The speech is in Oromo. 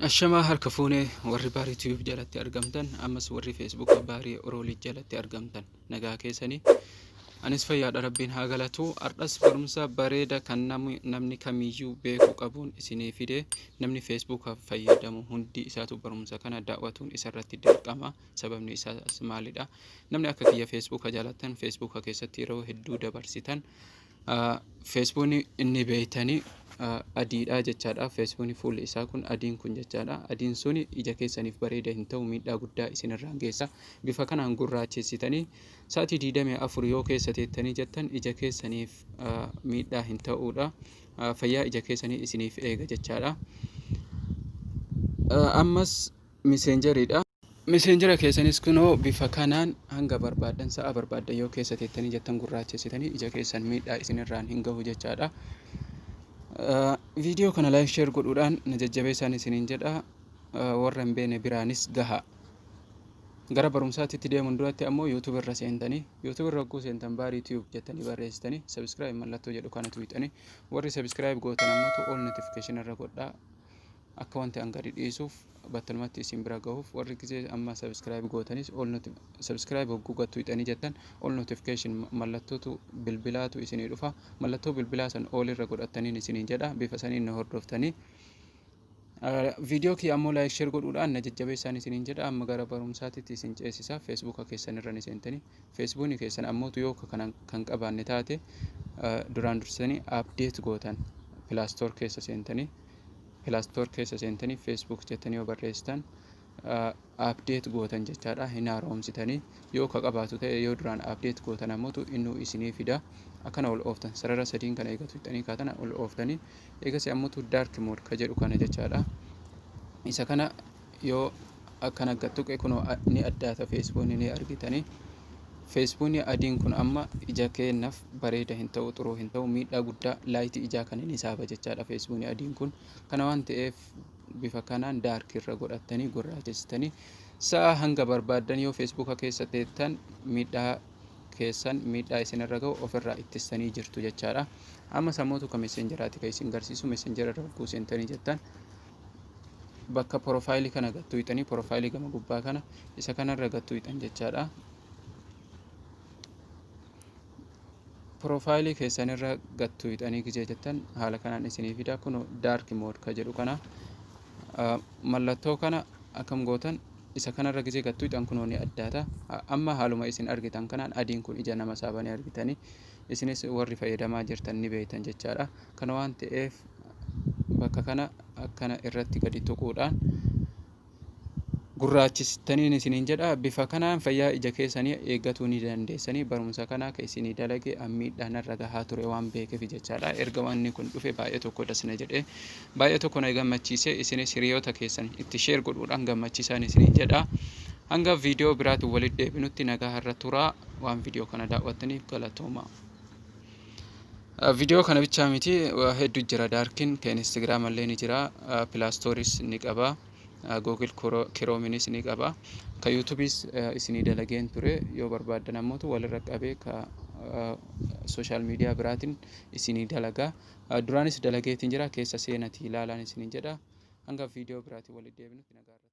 Ashamaa harka fuunee warri baarii tiyuuf jalatti argamtan ammas warri feesbuuka baarii oroolii jalatti argamtan nagaa keessanii anis fayyaadha rabbiin haa galatu ardhas barumsa bareeda kan namni kamiyyuu beeku qabuun isinii fide namni feesbuukaaf fayyadamu hundi isaatu barumsa kana daawwatuun isarratti dirqama sababni isaas maalidha namni akka kiyya feesbuuka jaalattan feesbuuka keessatti yeroo hedduu dabarsitan Feesbuukni inni beektan adiidha jechaadha. Feesbuukni fuulli isaa kun adiin kun jechaadha. Adiin sun ija keessaniif bareeda hin ta'u miidhaa guddaa isinirraan geessa. Bifa kanaan gurraachessitanii sa'atii 24 yoo keessa teettanii jettan ija keessaniif miidhaa hin ta'uudha. Fayyaa ija keessanii isiniif eega jechaadha. Ammas miseenjeriidha. Messenger keessanis kunoo bifa kanaan hanga barbaaddan sa'a barbaaddan yoo keessa teettanii jettan gurraachessitanii ija keessan miidhaa isinirraan hin gahu jechaadha. Viidiyoo kana like share godhuudhaan na jajjabeessaan isiniin jedha. Warra hin beekne biraanis gaha. Gara barumsaatti itti deemuun duratti ammoo YouTube irra seentanii YouTube irra hogguu seentan baarii tube jettanii barreessitanii subscribe mallattoo jedhu kana tuuxanii warri subscribe gootan ammoo all notification irra godhaa. Akka wanti an gadi dhiisuuf battalumatti isin bira gahuuf warri gizee amma subscribe gootanis all noti subscribe hogguu gattu hixanii jettan all notification mallattootu bilbilaatu isinii dhufa mallattoo bilbilaa san all irra godhattaniin isiniin jedha bifa saniin na hordoftanii viidiyoo kiyya ammoo laayik sheer godhuudhaan na jajjabeessaan isiniin jedha amma gara barumsaatitti isin ceesisa feesbuuka keessan irra ni seentanii Feesbuuni keessan ammoo yoo ka kana kan qabaanne taate duraan dursitanii update gootan Play Store keessa seentanii Play Store keessa seentanii Facebook jettanii yoo barreessitan update gootan jechaadha hin haaromsitanii yoo ka qabaatu ta'e yoo duraan update gootan ammoo innuu isinii fida akkana ol ooftan sarara sadiin kana eegatu hixanii kaatana ol ooftanii eegasi ammoo dark mode ka jedhu kana jechaadha isa kana yoo akkan akka tuqe kuno ni addaata feesbuunni ni argitani feesbuunni adiin kun amma ija keennaaf bareeda hin ta'u xuruu hin ta'u miidhaa guddaa laayiti ijaa kan inni saaba jechaadha feesbuunni adiin kun kana waan ta'eef bifa kanaan daarkii irra godhattanii gurraachessitanii sa'a hanga barbaaddan yoo feesbuuka keessa teettan miidhaa keessan miidhaa isinirra ga'u ofirraa ittistanii jirtu jechaadha amma sammootu ka messenjeraati ka isin garsiisu messenjera irra hogguu seentanii jettan bakka porofaayilii kana gad tuqxanii porofaayilii gama gubbaa kana isa kanarra gad tuqxan jechaadha. Porofaayilii keessanirra gad tuqxanii gijee jettan haala kanaan isinii fida kun daark mood ka jedhu kana mallattoo kana akkam gootan isa kanarra gijee gad tuqxan kunoo ni addaata amma haaluma isin argitan kanaan adiin kun ija nama saabanii argitanii Isinis warri fayyadamaa jirtan ni beektan jechaadha. Kana waan ta'eef bakka kana akkana irratti gadi tuquudhaan gurraachistaniin isiniin jedha bifa kanaan fayyaa ija keessanii eeggatuu ni dandeessanii barumsa kana akka isinii dalage ammiidhaan irra gahaa ture waan beekeef jechaadha erga wanni kun dhufe baay'ee tokko dasna jedhee Baay'ee tokko na gammachiise isinis hiriyoota keessan itti share godhuudhaan gammachiisaan isiniin jedha. Hanga viidiyoo biraatiin walitti deebinutti nagaa irra turaa waan viidiyoo kana daawwattaniif galatooma. Viidiyoo kana bichaa miti hedduu jira daarkin kan Instagram illee ni jira pilaastooris ni qaba Google Chromeenis ni qaba ka YouTubeis isinii dalageen ture yoo barbaaddan ammoo walirra qabee ka sooshaal miidiyaa biraatiin isinii dalagaa. Duraanis dalageetiin jira keessa seenatii ilaalaa isiniin jedha. Hanga viidiyoo biraatiin walitti deebinutti nagaa irra turaa.